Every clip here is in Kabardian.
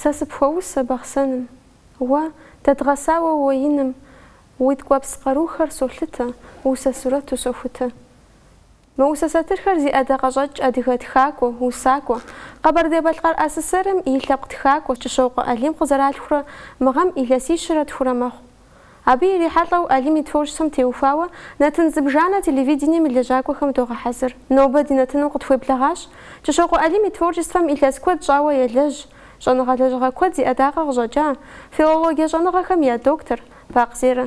Сэ сыпхуэусэ Бахъсэным. Уэ, дэдгъэсауэ уэ иным, Уи ткӏуэпс къарухэр солъытэ, Усэ сурэту сохутэ. Мы усэ сатырхэр зи ӏэдакъэщӏэкӏ адыгэ тхакӏуэ, усакӏуэ, Къэбэрдей-Балъкъэр АССР-м и лъэпкъ тхакӏуэ Кӏыщокъуэ Алим къызэралъхурэ мы гъэм илъэсищэрэ тхурэ мэхъу. Абы ирихьэлӏэу Алим и творчествэм теухуауэ нэтын зыбжанэ телевидением и лэжьакӏуэхэм догъэхьэзыр. Нобэ ди нэтыным къытхуеблэгъащ. Кӏыщокъуэ Алим и творчествэм илъэс куэд щӏауэ елэжь, щӏэныгъэ-лэжьыгъэ куэд зи ӏэдакъэ къыщӏэкӏа, филологие щӏэныгъэхэм я доктор, Бакъ Зерэ.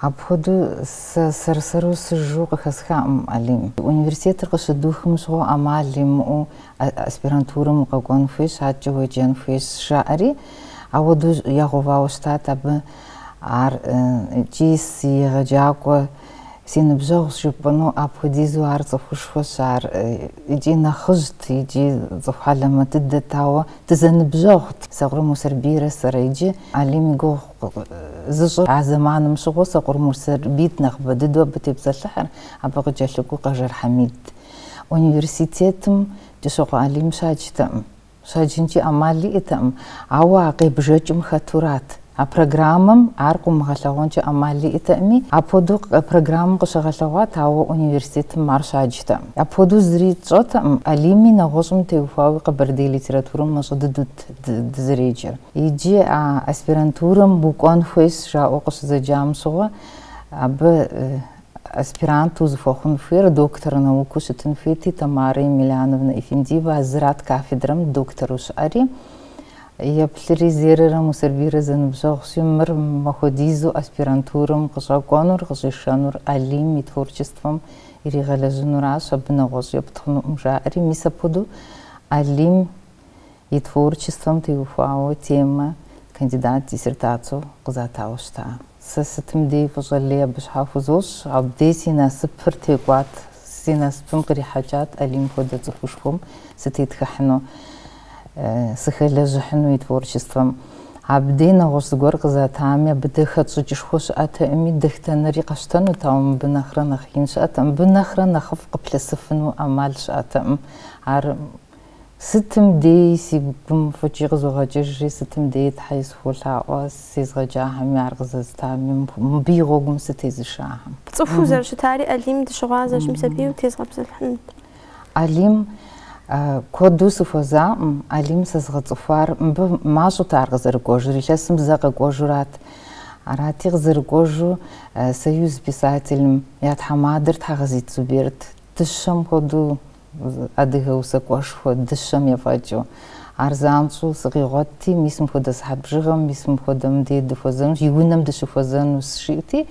Апхуэдэу сэ сэр-сэру сыжу къыхэсхакъым, Алим. Университетыр къыщыдухым щыгъуэ ӏэмал имыӏэу аспирантурэм укъэкӏуэн хуейщ, адэкӏэ уеджэн хуейщ, жаӏэри, ауэдэу ягъэувауэ щытат абы ар икӏи си егъэджакӏуэ, си ныбжьэгъущ жыпӏэну, апхуэдизу ар цӏыхушхуэщ, ар икӏи нэхъыжьт, икӏи цӏыху хьэлэмэт дыдэт, ауэ дызэныбжьэгъут. Сокъур Мусэрбийрэ сэрэ иджы, Алим и гугъу. зыщӏыр. А зэманым щыгъуэ Сокъур Мусэрбийт нэхъыбэ дыдэу абы тепсэлъыхьыр, абы къыкӏэлъыкӏуэу Къэжэр Хьэмид. Университетым Кӏыщокъуэ Алим щаджтэкъым. Щаджынкӏи ӏэмал иӏэтэкъым, ауэ а къебжэкӏым хэтурат. А программэм ар къыумыгъэлъэгъуэнкӏэ ӏэмал иӏэтэкъыми, апхуэдэу программэм къыщыгъэлъэгъуат, ауэ университетым ар щаджтэкъым. Апхуэдэу зыри тщӏэтэкъым, Алими нэгъуэщӏым теухуауи къэбэрдей литературэм мащӏэ дыдэу щыӏэщ дызэреджэр. Иджы а аспирантурэм укӏуэн хуейщ жаӏэу къыщызэджам щыгъуэ, абы аспирант узыхуэхъун хуейр доктор наукэу щытын хуейти, Тамара Емельяновна Эфендиева а зырат кафедрэм доктору щыӏэри. Еплъри Зерэрэ Мусэрбийрэ зэныбжьэгъущи, мыр мыпхуэдизу аспирантурэм къыщӏэкӏуэнур, къыщӏишэнур Алим и творчествэм иригъэлэжьынуращ, абы нэгъуэщӏ епт хъунукъым жаӏэри. Мис апхуэдэу Алим и творчествэм теухуауэ темэ кандидат диссертацэу къызатауэ щыта. Сэ сытым дей фӏыщӏэ лей абы щхьэ хузощӏ. Абдей си насыпыр текӏуат. Си насыпым кърихьэкӏат Алим хуэдэ цӏыхушхуэм сытетхыхьыну, сыхэлэжьыхьыну и творчествэм. Абдей нэгъуэщӏ зыгуэр къызатами, абы дэ хэтщӏыкӏышхуэ щыӏэтэкъыми, дэтхэнэри къэсщтэнут, ауэ мыбы нэхърэ нэхъ ин щыӏэтэкъым. Мыбы нэхърэ нэхъыфӏ къыплъысыфыну ӏэмал щыӏэтэкъым. Ар Сытым деи си гум фӏыкӏи къызогъэкӏыжри, сытым деи Тхьэи сыхуолъаӏуэ, сезыгъэджахэми, ар къызэзытами, мыбы и гъуэгум сытезышахэм. Цӏыхуу зэрыщытари Алим дыщыгъуазэщ, мис абыи утезгъэпсэлъыхьынут. Алим куэду сыхуэзакъым, Алим сэзыгъэцӏыхуар, мыбы мащӏэт ар къызэрыкӏуэжыр, илъэсым зэ къэкӏуэжурат. Арати, къызэрыкӏуэжу Союз писателым я тхьэмадэр Тхьэгъэзит Зуберт дыщэм хуэдэу. Адыгэ усакӏуэшхуэ дыщэм ефӏэкӏыу. Ар занщӏэу сыкъигъуэтти, мис мыпхуэдэ сыхьэт бжыгъэм, мис мыпхуэдэм де дыхуэзэнущ, и унэм дыщыхуэзэнущ, жиӏэти,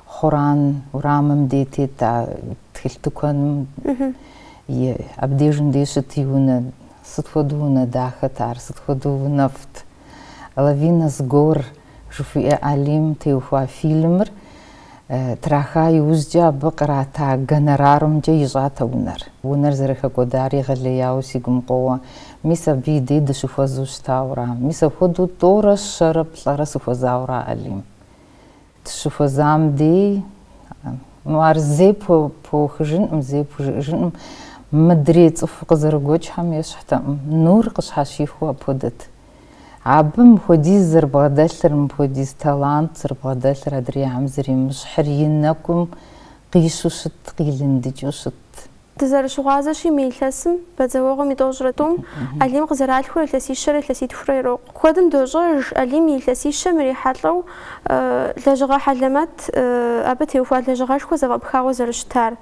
Хъуран урамым де тет а тхылъ тыкуэным и абдежым де щыт и унэ. Сыт хуэдэу унэ дахэт ар, сыт хуэдэу унэфӏт. Лавина с гор Жыхуиӏэ Алим теухуа фильмыр траха иужькӏэ абы кърата гонорарумкӏэ ищӏат а унэр. Унэр зэрыхэкӏуэдар егъэлеяуэ си гум къоуэ. Мис абы и дей дыщыхуэзу щытауэра? Мис апхуэдэу тӏорэ щэрэ плӏэрэ сыхуэзауэра Алим? Дыщыхуэзам дей, ну, ар зэи пхуэухыжынкъым, зэи пхужыӏэжынкъым. Мыдрей цӏыху къызэрыгуэкӏхэм ещхьтэкъым. Нур къыщхьэщихуэу апхуэдэт. Абы мыпхуэдиз зэрыбгъэдэлъыр, мыпхуэдиз талант зэрыбгъэдэлъыр адрейхэм зэримыщхьыр и нэкӏум къищу щытт, къилындыкӏыу щытт. Дызэрыщыгъуазэщи, мы илъэсым бадзэуэгъуэм и тӏощӏрэ тӏум Алим къызэралъхурэ илъэсищэрэ илъэситхурэ ирокъу. Куэдым дощӏэж Алим и илъэсищэм ирихьэлӏэу лэжьыгъэ хьэлэмэт, абы теухуа лэжьыгъэшхуэ зэфӏэпхауэ зэрыщытар.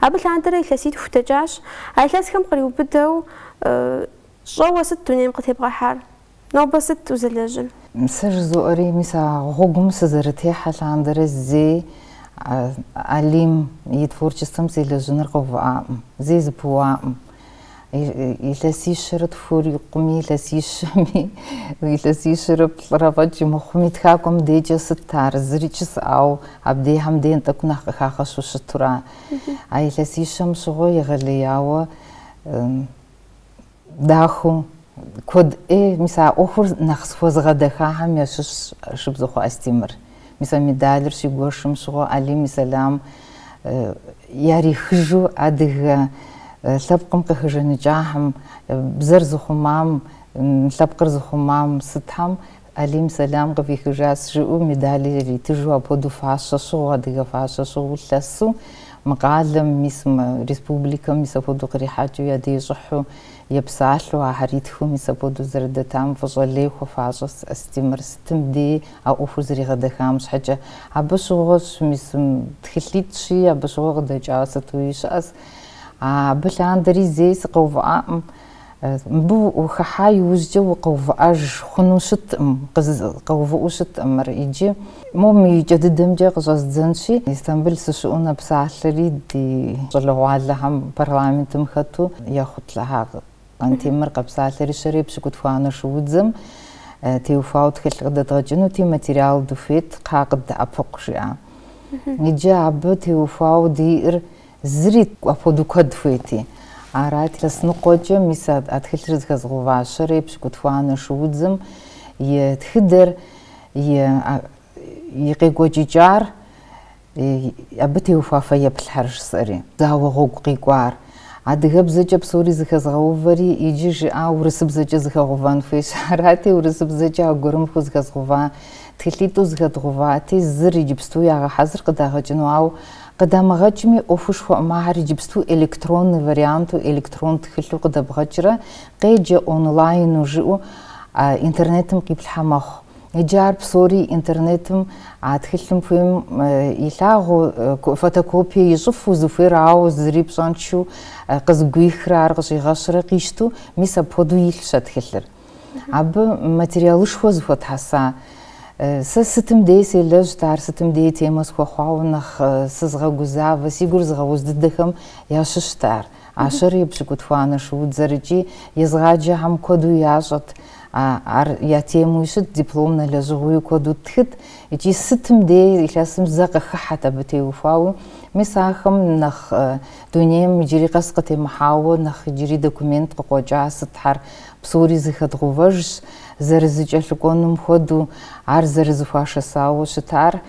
Абы лъандэрэ илъэситху дэкӏащ, а илъэсхэм къриубыдэу, Щӏэуэ сыт дунейм къытебгъэхьар? Нобэ сыт узэлэжьыр? Сэ жызоӏэри, мис а гъуэгум сызэрытехьэ лъандэрэ зэи Алим и творчествэм селэжьыныр къэувыӏакъым, зэи зыпыуакъым. Илъэсищэрэ тхурэ ирикъуми, илъэсищэми, илъэсищэрэ плӏырэ фӏэкӏ имыхъуми, тхакӏуэм декӏэ сыт ар, зырикӏ жысӏауэ, абдехэм ден тӏэкӏу нэхъ къыхагъэщу щытура? А илъэсищэм щыгъуэ егъэлеяуэ дахэу куэд ӏей, мис а ӏуэхур нэхъ схуэзыгъэдэхахэм ящыщщ Шыбзыхъуэ Астемыр. Мис а медалыр щигуэшым щыгъуэ Алим и сэлам ярихыжу адыгэ лъэпкъым къыхэжаныкӏахэм, бзэр зыхъумам, лъэпкъыр зыхъумам сытхэм Алим сэлам къывихыжащ, жыӏэу медали яритыжу, апхуэдэу фащэ щыгъыу, адыгэ фащэ щыгъыу лъэсу, мы къалэм, мис мы республикэм мис апхуэдэу кърихьэкӏыу я деж щӏыхьу епсалъэу, ахьэр итхыу мис апхуэдэу зэрыдэтам фӏыщӏэ лей хуэфащӏэ Астемыр сытым деи а ӏуэхур зэригъэдэхам щхьэкӏэ. Абы щыгъуэщ мис тхылъитӏщи, абы щыгъуэ къыдэкӏауэ сытуи щыӏэщ. Абы лъандэри зэи сыкъэувыӏакъым. Мыбы ухыхьа иужькӏэ укъэувыӏэж хъуну щыткъым, къэувыӏэу щыткъым мыр иджы. Моу мы и кӏэ дыдэмкӏэ къыщӏэздзэнщи, Истамбыл сыщыӏэу нэпсалъэри ди щӏалэгъуалэхэм парламентым хэту ехъут лъэхьакъ Къантемыр къэпсалъэри щэрэ епщыкӏутхуанэ шуудзэм теухуауэ тхылъ къыдэдгъэкӏынути материал дыхуейт кхъа къыддэӏэпыкъу жиӏа. Иджы абы теухуауэ диӏэр Зыри апхуэдэу куэд хуейти. Арати, илъэс ныкъуэкӏэ мис а тхылъыр зыхэзгъэува щэрэ епщыкӏутхуанэ шуудзым и тхыдэр, и къекӏуэкӏыкӏар, абы теухуа фэеплъхьэр жысӏэри, зауэ гъуэгу къикӏуар. Адыгэбзэкӏэ псори зыхэзгъэувэри, иджы жиӏауэ урысыбзэкӏэ зыхэгъувэн хуейщ. Арати, урысыбзэкӏэ аргуэрым хузыхэзгъува тхылъитӏу зыхэдгъувати, зыр иджыпсту ягъэхьэзыр къыдагъэкӏыну, ауэ Къыдамыгъэкӏми, ӏуэхушхуэӏым, ахэр иджыпсту электронный варианту, электрон тхылъу къыдэбгъэкӏрэ, къеджэ онлайну жыӏэу интернетым къиплъхьэ мэхъу. Иджы ар псори интернетым а тхылъым хуейм илъагъуу, фотокопие ищӏыфу, зыхуейр ауэ зыри пщӏэншэу, къызыгуихрэ ар къыщӏигъэщрэ къищту, мис апхуэдэу илъщ а тхылъыр. Абы материалышхуэ зыхуэтхьэса. Сэ сытым дей селэжьт, ар сытым дей темэ схуэхъуауэ нэхъ сызгъэгузавэ, си гур зыгъэуз дыдэхэм ящыщт ар. А щэрэ епщыкӏутхуанэ шуудзэр икӏи езыгъаджэхэм куэду ящӏэт. Ар я темуи щыт, дипломнэ лэжьыгъэуи куэду тхыт икӏи сытым дей илъэсым зэ къыхыхьэт абы теухуауэ. Мис ахэм нэхъ дунейм иджыри къэс къытемыхьауэ нэхъ иджыри документ къыкъуэкӏа сытхьэр, Псори зыхэдгъэувэжщ, зэрызыкӏэлъыкӏуэнум хуэдэу ар зэрызыхуашэсауэ щытар,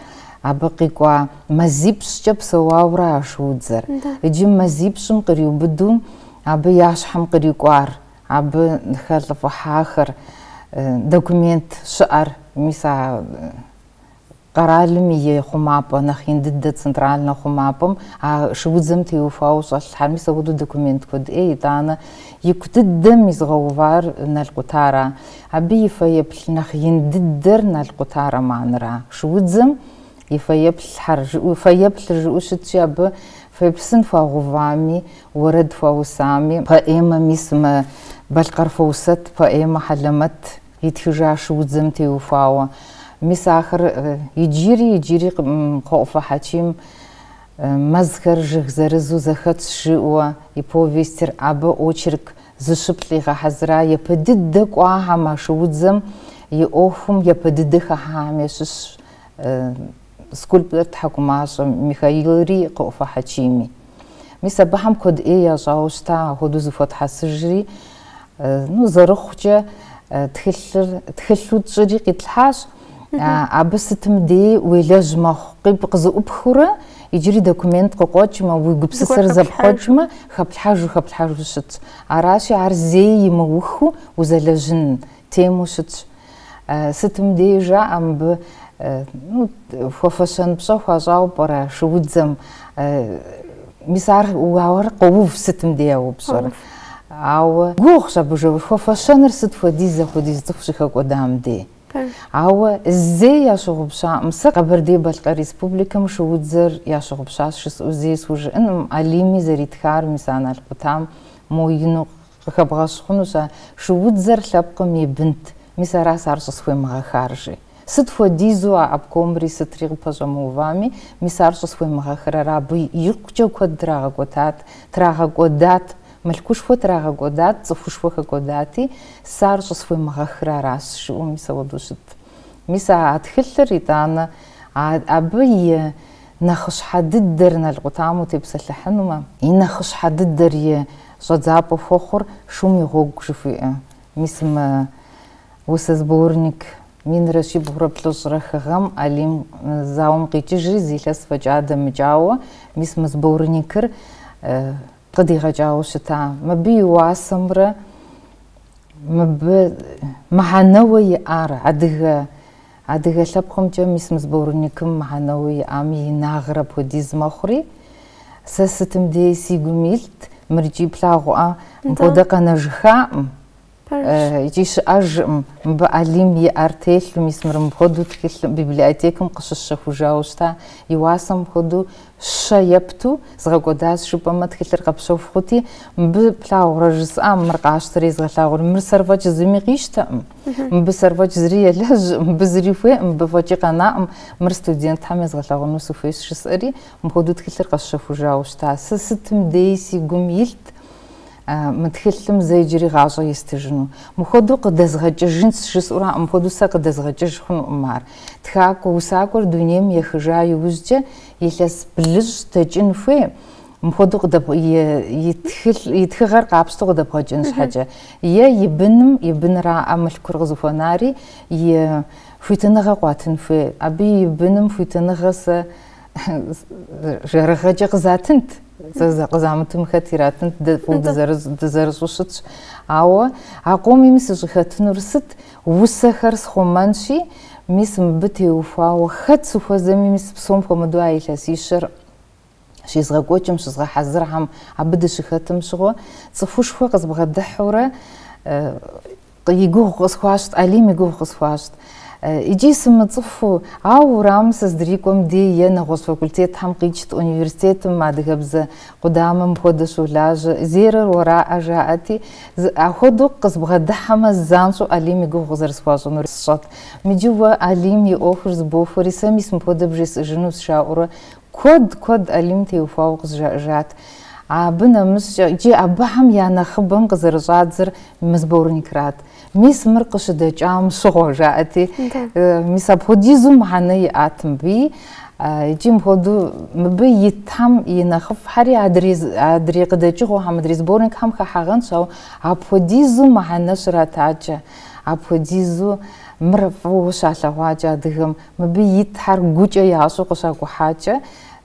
абы къикӏуа мазипщӏкӏэ псэуауэрэ а шуудзэр. Иджы мазипщӏым къриубыдэу абы я щхьэм кърикӏуар, абы хэлӏыфӏыхьахэр, документ щыӏэр, мис а Къэралым и хъумапӏэ, нэхъ ин дыдэ центральнэ хъумапӏэм, а шуудзэм теухуауэ щӏэлъхьэр, мис апхуэдэу документ куэд ӏей, итӏанэ ику дыдэм изыгъэувар Нал къутара. Абы и фэеплъ нэхъ ин дыдэр Нал къута романра. Шуудзэм и фэеплъхьэр жыӏэу, фэеплъыр жыӏэу щытщи, абы фэеплъ сын хуагъэувами, уэрэд хуаусами, поэмэми сымэ, Балъкъэр Фоусэт поэмэ хьэлэмэт Итхыжа а шуудзэм теухуауэ. Мис ахэр иджыри, иджыри Кхъуэӏуфэ Хьэчим Мэзхэр жыг зырызу зэхэтщ жыӏуэ и повестыр абы очерк зыщыплӏ игъэхьэзыра япэ дыдэ кӏуахьэм, а шуудзэм и ӏуэхум япэ дыдэ хыхьэхэм ящыщщ скульптор Тхьэкӏумашэ Михаилри Кхъуэӏуфэ Хьэчими. Мис абыхэм куэд ӏей ящӏауэ щыта апхуэдэу зэхуэтхьэсыжри, ну, зэрыхъукӏэ тхылъыр, тхылъу тщӏыри къитлъхьащ. Абы сытым дей уелэжь мэхъу, къи... къызэӏупхыурэ, иджыри документ къыкъуэкӏмэ, уи гупсысэр зэпхъуэкӏмэ, хэплъхьэжу, хэплъхьэжу щытщ. Аращи, ар зэи имыухыу узэлэжьын тему щытщ. Сытым дей жаӏэ мыбы ну, хуэфэщэн пщӏэ хуащӏауэ пӏэрэ шуудзэм? Мис арауэ къоув сытым дей а упщӏэр. Ауэ гугъущ абы жэур хуэфэщэныр сыт хуэдиз апхуэдиз цӏыху щыхэкӏуэдам дей. Ауэ зэи ящыгъупщаӏым. Сэ Къэбэрдей-Балъкъэр Республикэм шуудзэр ящыгъупщащ жысӏэу зэи схужыӏэнкъым. Алими зэритхар мис а «Нал къутам» мо ину Къыхэбгъэщӏ хъунущ а шуудзэр лъэпкъым и бынт. Мис аращ сэ ар щӏысхуемыгъэхар, жи. Сыт хуэдизу а обкомри сытри къыпэщӏэмыувами, мис ар щӏысхуемыгъэхрэр абы икъукӏэ куэд трагъэкӏуэтат, трагъэкӏуэдат, мылъкушхуэ трагъэкӏуэдат, цӏыхушхуэ хэкӏуэдати, сэ ар щӏысхуемыгъэхыр аращ, жиӏэу мис апхуэдэу щытт. Мис а а тхылъыр, итӏанэ, а абы и нэхъыщхьэ дыдэр «Нал къутам» утепсэлъыхьынумэ, и нэхъыщхьэ дыдэр и Щӏэдзапӏэ хуэхъур шум и гъуэгу жыхуиӏэ. Мис мы усэ сборник минрэ щибгъурэ плӏыщӏрэ хы гъэм Алим зауэм къикӏыжри зи илъэс фӏэкӏа дэмыкӏауэ, мис мы сборникыр къыдигъэкӏауэ щыта. Мыбы и уасэмрэ мыбы мыхьэнэуэ иӏар адыгэ Адыгэ лъэпкъымкӏэ мис мы сборникым мыхьэнэу иӏам и инагъыр апхуэдиз мэхъури, сэ сытым дей си гум илът, мыр икӏи плъагъуӏэ, мыпхуэдэ къэнэжыххаӏым икӏи щыӏэжкъым. Мыбы Алим и ӏэр телъу, мис мыр мыпхуэдэу тхылъым, библиотекэм къыщысщэхужауэ щыта, и уасэм хуэдэу щэ епту згъэкӏуэдащ, жыпӏэмэ, тхылъыр къэпщэху хъути, мыбы плъагъурэ жысӏам, мыр къасщтэри езгъэлъагъури, мыр сэр фӏэкӏ зыми къищтэкъым. Мыбы сэр фӏэкӏ зыри елэжь, мыбы зыри хуей, мыбы фӏэкӏи къэнаӏым, мыр студентхэм езгъэлъэгъуэну сыхуейщ жысӏэри, мыпхуэдэу тхылъыр къэсщэхужауэ щыта. Сэ сытым дей си гум илът мы тхылъым зэ иджыри гъащӏэ естыжыну. Мыпхуэдэу къыдэзгъэкӏыжынщ жысӏэуракъым, мыпхуэдэу сэ къыдэзгъэкӏыж хъунукъым ар. Тхакӏуэ, усакӏуэр дунейм ехыжа иужькӏэ, илъэс блыщӏ дэкӏын хуей. Мыпхуэдэу къыдэбгъ... и, и, тхылъ, и тхыгъэр къапщтэу къыдэбгъэкӏын щхьэкӏэ. Е и быным, и быныраӏэ мылъкур къызыхуэнари, и хуитыныгъэ къуатын хуей. Абы и быным хуитыныгъэ сэ жэрыгъэкӏэ къызатынт. Сэ къызамытым хэт иратынт, дэ фӏыуэ дызэрыщӏэу щытщ. Ауэ а къомми сыщӏыхэтынур сыт? Усэхэр схъумэнщи, мис мыбы теухуауэ хэт сыхуэзэми, мис псом хуэмыдэу а илъэсищэр щезгъэкӏуэкӏым щызгъэхьэзырхэм абы дыщыхэтым щыгъуэ цӏыхушхуэ къызбгъэдыхьэурэ и гугъу къысхуащӏт, Алим и гугъу къысхуащӏт. Иджи сымыцӏыхуу, ауэ уэрамым сыздрикӏуэм дей е нэгъуэщӏ факультетхэм къикӏт, университетым адыгэбзэ къудамэ мыпхуэдэу щолажьэ, Зерэр уэраӏэ, жаӏэти, ахуэдэу къызбгъэдыхьэмэ, занщӏэу Алим и гугъу къызэрысхуащӏынур сщӏэт. Иджы уэ Алим и ӏуэхур зыбохуэри, сэ мис мыпхуэдэ бжесӏэжынущ, жаӏэурэ Куэд, куэд Алим теухуауэ къызжаӏэжат. Абы нэмыщӏкӏэ, иджы абыхэм я нэхъыбэм къызэрыщӏадзэр мы сборникрат. Мис мыр къыщыдэкӏам щыгъуэ, жаӏэти. Мис апхуэдизу мыхьэнэ иӏат мыбы. Икӏи мыпхуэдэу мыбы итхэм и нэхъыфӏхэри адрей къыдэкӏыгъуэхэм, адрей сборникхэм хыхьагъэнщ, ауэ апхуэдизу мыхьэнэ щратакӏэ, апхуэдизу мыр фӏыуэ щалъэгъуакӏэ адыгэм Мыбы итхэр гукӏэ ящӏэу къыщакӏухьакӏэ,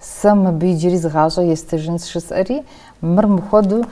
Сэ мыбы иджыри зы гъащӏэ естыжынщ, жысӏэри, мыр мыхуэду,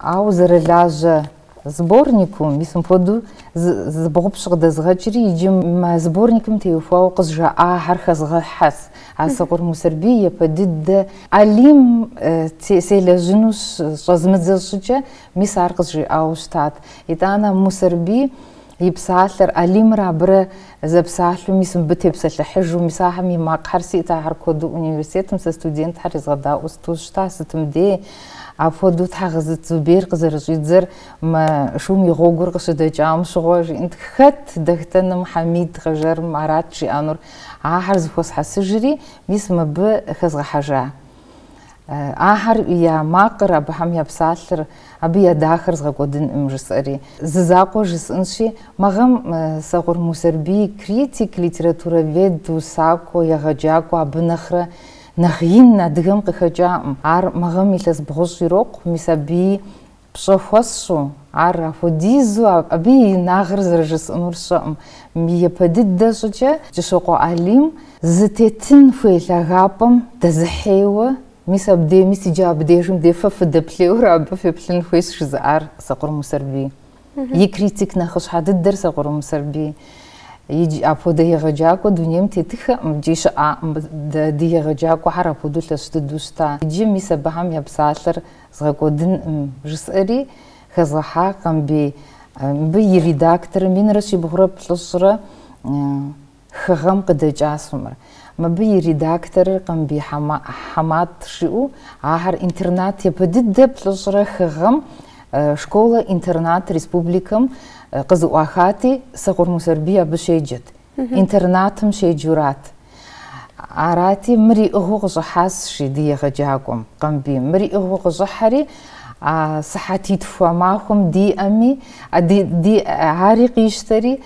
ауэ зэрылажьэ сборнику, мис мыпхуэду зыбгъупщӏ къыдэзгъэкӏри, иджы мы сборникым теухуауэ къызжаӏахэр хэзгъэхьэс, а Сокъур Мусэрбий япэ дыдэ Алим селэжьыну щӏэзмыдзэ щӏыкӏэ, мис ар къызжиӏауэ щытат. Итӏанэ Мусэрбий и псалъэр, Алимрэ абырэ зэпсалъэу, мис мыбы тепсэлъыхьыжу, мис ахэм и макъхэр сиӏт, ахэр куэду университетым сэ студентхэр езгъэдаӏуэу, сыту щыта, сытым дей. Апхуэдэу Тхьэгъызыт Зубер къызэрыщӏидзэр мы шум и гъуэгур къыщыдэкӏам щыгъуэ, жиӏэнт. Хэт Дахтэным, Хьэмид Къэжэрым арат жиӏэнур. Ахэр зыхуэсхьэсыжри, мис мыбы хэзгъэхьэжа. Ахэр я макъыр абыхэм я псалъэр, абы я дахэр згъэкӏуэдынкъым, жысӏэри. Зы закъуэ жысӏэнщи, мы гъэм Сокъур Мусэрбий критик, литературовед, усакӏуэ, егъэджакӏуэ абы нэхърэ нэхъ ин адыгэм къыхэкӏакъым. Ар мы гъэм илъэс бгъущӏ ирокъу, мис абыи Пщӏэ хуэсщӏу, ар апхуэдизу абы и инагъыр зэрыжысӏэнур щыӏэкъым. Япэ дыдэ щӏыкӏэ Кӏыщокъуэ Алим зытетын хуей лъагапӏэм дэзыхьейуэ, мис абдей, мис иджы абдежым дей фэ фыдэплъейуэрэ абы феплъын хуейщ жызыӏар Сокъур Мусэрбий. И критик нэхъыщхьэ дыдэр Сокъур Мусэрбий. Иджы апхуэдэ егъэджакӏуэ дунейм тетыххэкъым икӏи щыӏакъым. Дэ ди егъэджакӏуэхэр апхуэдэу лъэщ дыдэу щыта. Иджы мис абыхэм я псалъэр Згъэкӏуэдынкъым, жысӏэри хэзгъэхьа. Къамбий, мыбы и редакторым минрэ щибгъурэ плӏыщӏрэ хы гъэм къыдэкӏас мыр. Мыбы и редакторыр Къамбий Хьэмат жиӏэу, ахэр интернат япэ дыдэ плӏыщӏрэ хы гъэм школэ-интернат республикэм къызэӏуахати, Сокъур Мусэрбий абы щеджэт. Интернатым щеджурат. Арати, мыр иӏыгъыу къыщӏыхьащ жи ди егъэджакӏуэм, Къамбий. Мыр иӏыгъыу къыщӏыхьэри, а сыхьэтитху а махуэм диӏэми, ари къищтэри,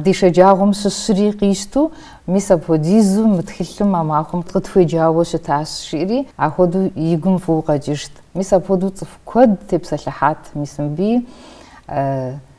ди шэджагъуэм щыщри къищту, мис апхуэдизу мы тхылъым а махуэм къытхуеджауэ щытащ, жиӏэри ахуэдэу и гум фӏыуэ къэкӏыжт. Мис апхуэдэу цӏыху куэд тепсэлъыхьат, мис мыбыи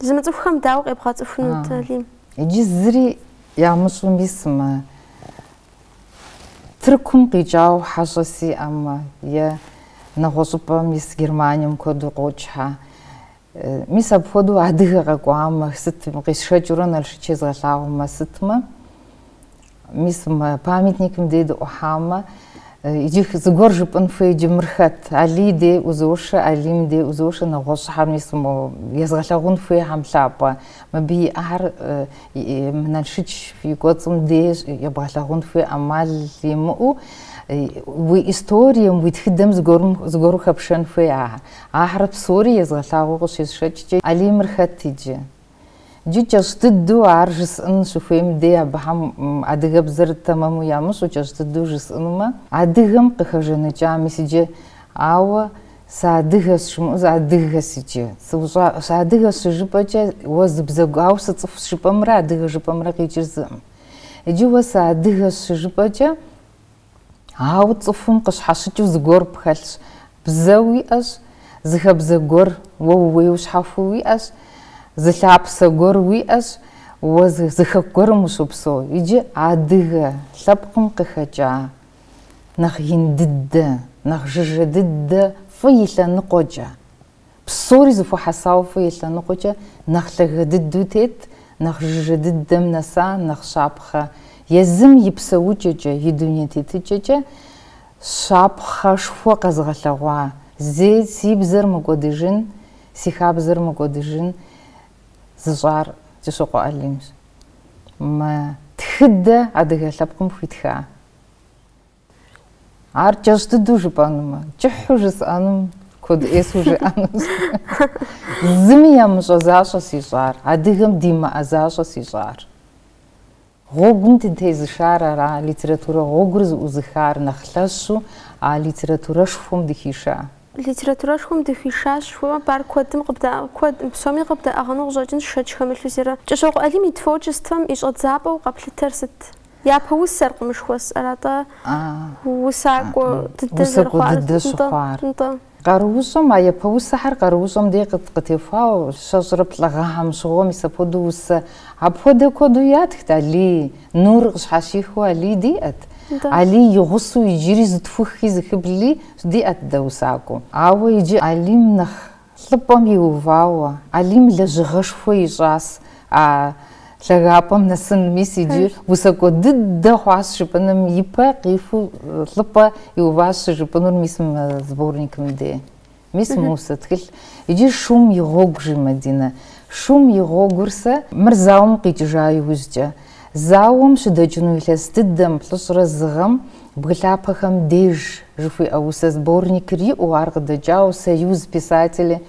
Зымыцӏыхухэм дауэ къебгъэцӏыхунут, Алим? Иджы зыри ямыщӏу мис мы Тыркум къикӏауэ хьэщӏэ сиӏэмэ, е нэгъуэщӏыпӏэ, мис Германием куэду къокӏхьэ. Мис апхуэдэу адыгэ къэкӏуамэ, сыт къисшэкӏыурэ Налшыч езгъэлъагъумэ, сытмэ, Мис мы памятникым дей дыӏухьамэ, иджы зыгуэр жыпӏын хуей иджы мыр хэт? Алий дей узошэ, Алим дей узошэ, нэгъуэщӏхьэр мис езгъэлъэгъун хуейхьэм лъапӏэ. Мыбы иӏар мы Налшыч и кӏуэцӏым дей ебгъэлъэгъун хуей ӏэмал имыӏэу, уи историем, уи тхыдэм зыгуэру хэпшэн хуей ахэр. Ахэр псори езгъэлъагъуэу къыщисшэкӏкӏэ, Алимыр хэт иджы? Иджы кӏэщӏ дыдэу ар жысӏын щыхуейм дей абыхэм адыгэбзэр тэмэму ямыщӏу кӏэщӏ дыдэу жысӏынумэ, адыгэм къыхэжэныкӏа, мис иджы, ауэ сыадыгэщ жымыӏэу зыадыгэс иджы. Сыущӏа, сыадыгэщ щыжыпӏэкӏэ, уэ зы бзэ гу, ауэ сыцӏыху жыпӏэмрэ адыгэ жыпӏэмрэ къикӏыр зыӏым. Иджы уэ сыадыгэщ щыжыпӏэкӏэ. Ауэ цӏыхум къыщхьэщыкӏыу зыгуэр пхэлъщ. Бзэ уиӏэщ, зы хабзэ гуэр, уэ ууейуэ щхьэхуэу уиӏэщ, зы лъапсэ гуэр уиӏэщ, уэ зы хэку гуэрым ущопсэу. Иджы адыгэ лъэпкъым къыхэкӏа нэхъ ин дыдэ, нэхъ жыжьэ дыдэ фӏы и лъэныкъуэкӏэ, Псори зэхуэхьэсауэ фӏы и лъэныкъуэкӏэ нэхъ лъагэ дыдэу тет, нэхъ жыжьэ дыдэм нэса, нэхъ щапхъэ. Езым и псэукӏэкӏэ, и дуней тетыкӏэкӏэ щапхъэшхуэ къэзыгъэлъэгъуа, Зи, си бзэр мыкӏуэдыжын, си хабзэр мыкӏуэдыжын зыщӏар Кӏыщокъуэ Алимщ. Мы тхыдэ адыгэ лъэпкъым хуитха. Ар кӏэщӏ дыдэу жыпӏэнумэ, кӏыхьу жысӏэнум куэд ӏейсу жиӏэнущ. Зыми ямыщӏэ защӏэщ ищӏар, адыгэм димыӏэ защӏэщ ищӏар. Гъуэгум дытезышар ара, литературэ гъуэгур зыӏузыхар нэхъ лъэщу а литературэшхуэм дыхиша. Литературэшхуэм дыхишащ жыхуэпӏар куэдым къыбдэӏэ, куэд, псоми къыбдаӏыгъыну къыщӏэкӏынщ шэч хэмылъу зырэ. Кӏыщокъуэ Алим и творчествэм и щӏэдзапӏэу къэплъытэр сыт? Япэ усэр къымышхуэс, аратӏэ усакӏуэ дыдэ зэрыхъуар. Усакӏуэ дыдэ щыхъуар. Нтӏэ. Къаруущӏэм, а япэ усэхэр къаруущӏэм дей къытехуауэ, щэщӏрэ плӏы гъэхьэм щыгъуэ мис апхуэдэу усэ. Апхуэдэ куэду ятхт Алий, нур къыщхьэщихыу Алий диӏэт. Алий и гъусэу иджыри зытхухи зыхыбли диӏэт дэ усакӏуэу. Ауэ иджы Алийм нэхъ Лӏыпӏэм иувауэ, Алим лэжьыгъэшхуэ ищӏащ а лъагапӏэм нэсыным, мис иджы усакӏуэ дыдэ хъуащ жыпӏэным и пэ къихуэу лӏыпӏэ иуващ щыжыпӏэнур мис мы сборникым де. Мис мы усэ тхылъ. Иджы шум и гъуэгу, жи Мадинэ. Шум и гъуэгур сэ. Мыр зауэм къикӏыжа иужькӏэ, Зауэм щыдэкӏыну илъэс дыдэм плӏыщӏрэ зы гъэм Бгы лъапэхэм деж жыхуиӏэ усэ сборникыр иӏэу ар къыдэкӏауэ Союз писателей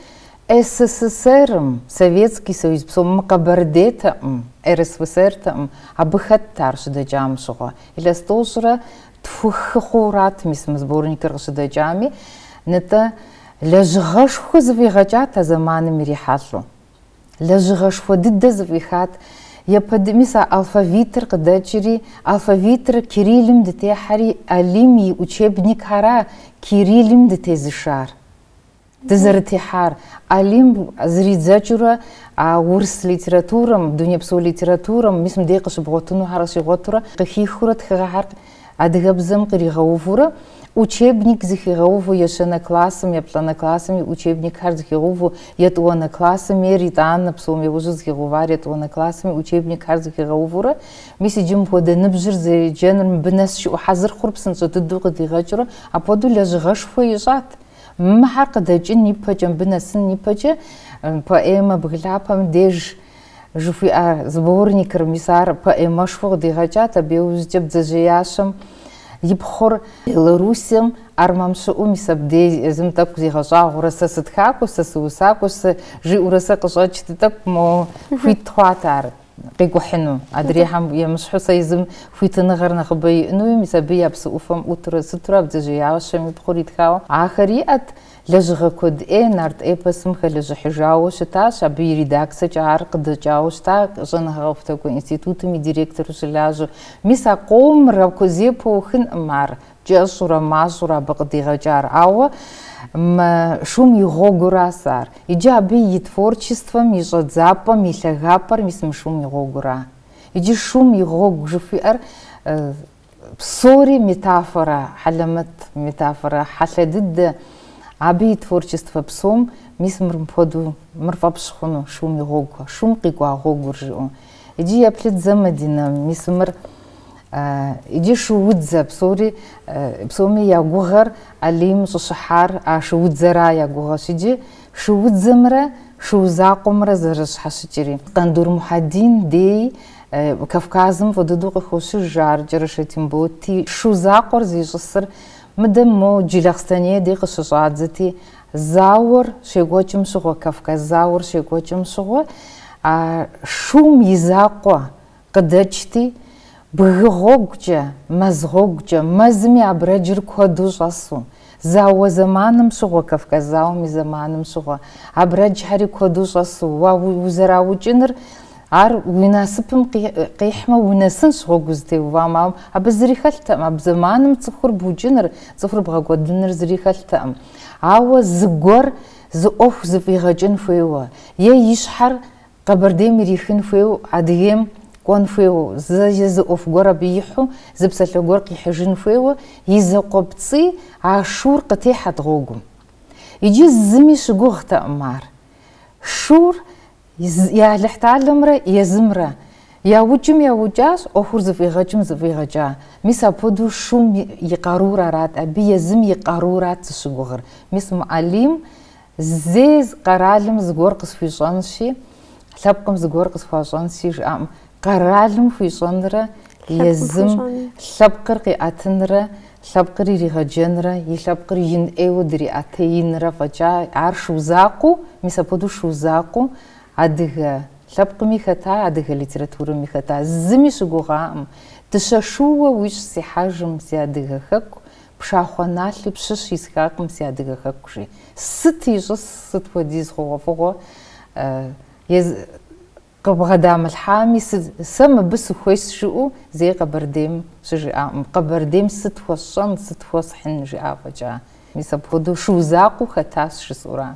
СССР-м, Советский Союз псом, мы Къэбэрдейтэкъым, РСФСР-тэкъым, абы хэтт ар щыдэкӏам щыгъуэ. Илъэс тӏощӏрэ тхух хъууэ арат мис мы сборникыр къыщыдэкӏами, нтӏэ, лэжьыгъэшхуэ зыфӏигъэкӏат а зэманым ирихьэлӏэу. Лэжьыгъэшхуэ дыдэ зыфӏихат. Япэд, мис а алфавитыр къыдэкӏри, алфавитыр кириллым дытехьэри, Алим и учебникхьэра кириллым дытезышар? Дызэрытехьар, Алим зэридзэкӏыурэ, а урыс литературэм, дунейпсо литературэм, мис мыдей къыщыбгъуэтынухьэр щигъуэтурэ, къыхихыурэ тхыгъэхьэр Адыгэбзэм къригъэувурэ, учебник зыхигъэуву ещэнэ классым, еплӏанэ классым и учебникхэр зыхигъэуву етӏуанэ классым ейр итӏанэ псом яужьу зыхигъэувар етӏуанэ классым и учебникхэр зыхигъэувурэ, мис иджы мыпхуэдэ ныбжьыр зэджэныр мыбы нэс щыӏэу хьэзыр хъур псынщӏэ дыдэу къыдигъэкӏыурэ апхуэдэу лэжьыгъэшхуэ ищӏат. Мыхьэр къыдэкӏын ипэкӏэ, мыбы нэсын ипэкӏэ поэмэ Бгы лъапэм деж Жыхуиӏэ сборникыр, мис ар поэмэшхуэ къыдигъэкӏат, абы иужькӏэ Бдзэжьеящэм и пхъур. Белоруссием армэм щыӏэу, мис абдей езым тӏэкӏу зигъэщӏагъуэрэ, сэ сытхакӏуэщ, сэ сыусакӏуэщ, жиӏэурэ сэ къыщӏэкӏт тӏэкӏу, мо хуит хъуат ар къикӏухьыну, адрейхэм емыщхьу сэ езым хуитыныгъэр нэхъыбэ иӏэнуи, мис абы я псы ӏуфэм ӏутурэ щытурэ а бдзэжьеящэм и пхъур итхауэ ахэр иӏэт. Лэжьыгъэ куэд ӏей нарт эпосым хэлэжьыхьыжауэ щытащ, абы и редакцэкӏэ ар къыдэкӏауэ щыта щӏэныгъэ-къэхутакӏуэ институтым и директору щылажьэу. Мис а къомыр апхуэдэу зэ пхуэухынкъым ар, кӏэщӏурэ мащӏурэ абы къыдигъэкӏар, ауэ мы шум и гъуэгуращ ар. Иджы абы и творчествэм и щӏэдзапӏэм и лъагапӏэр мис мы шум и гъуэгура. Иджы шум и гъуэгу жыхуиӏэр Псори метафорэ, хьэлэмэт метафорэ, хьэлъэ дыдэ. Абы и творчествэ псом, мис мыр мыпхуэдэу, мыр фӏэпщ хъуну, шум и гъуэгу, шум къикӏуа гъуэгур жиӏэу. Иджы еплъыт зэ, Мадинэ, мис мыр иджы шуудзэ, псори, псоми я гугъэр Алим щӏыщыхьар а шуудзэра я гугъэщ, иджы шуудзэмрэ шу закъуэмрэ зэрыщхьэщыкӏри. Къандур Мухьэдин дей Кавказым фӏы дыдэу къыхощыж ар Кӏэрашэ Темботи шу закъуэр зищӏысыр. Мыдэм мо Джылахъстэней дей къыщыщӏадзэти, зауэр щекӏуэкӏым щыгъуэ, Кавказ зауэр щекӏуэкӏым щыгъуэ а шум и закъуэ къыдэкӏти, бгы гъуэгукӏэ, мэз гъуэгукӏэ, мэзыми абрэджыр куэду щӏэсу, Зауэ зэманым щыгъуэ, Кавказ зауэм и зэманым щыгъуэ. Абрэджхьэри куэду щӏэсу. Уэ узэраукӏыныр, ар уи насыпым къихьмэ, унэсынщ гъуэгу узытеувам. Ауэ абы зыри хэлътэкъым. Абы зэманым цӏыхур букӏыныр, цӏыхур бгъэкӏуэдыныр зыри хэлътэкъым. Ауэ зыгуэр зы ӏуэху зыфӏигъэкӏын хуейуэ, е и щхьэр Къэбэрдейм ирихын хуейуэ, Адыгейм кӏуэн хуейуэ, зэ е зы ӏуэху гуэр абы ихьу, зы псалъэ гуэр къихьыжын хуейуэ и закъуэпцӏий а шур къытехьэт гъуэгум. Иджы зыми щыгугътэкъым ар. Шур и Алыхьталэмрэ езымрэ яукӏым яукӏащ, ӏуэхур зыфӏигъэкӏым зыфӏигъэкӏа. Мис апхуэдэу шум и къарур арат, абы езым и къарурат зыщыгугъыр. Мис мы Алим Зэи къэралым зыгуэр къысхуищӏэнщи, лъэпкъым зыгуэр къысхуащӏэнщи жиӏакъым. Къэралым хуищӏэнрэ езым лъэпкъыр къиӏэтынрэ лъэпкъыр иригъэджэнрэ и лъэпкъыр ин ӏейуэ дриӏэтеинрэ фӏэкӏа ар шу закъуэу, мис апхуэдэу шу закъуэу адыгэ лъэпкъми хэта, адыгэ литературэми хэта, зыми щыгугъакъым. Дыщэ шууэ уи щӏ сихьэжым, си адыгэ хэку, Пшахъуэ налъи пщыщ исхакъым си адыгэ хэку, жи. Сыт ищӏыс, сыт хуэдиз хъугъуэфӏыгъуэ ез къыбгъэдамылъхьами, сыт, сэ мыбы сыхуейщ жиӏэу зэи Къэбэрдейм щыжиӏакъым, Къэбэрдейм сыт хуэсщӏэн, сыт хуэсхьын жиӏа фӏэкӏа. Мис апхуэдэу шу закъуэу хэтащ жысӏэура.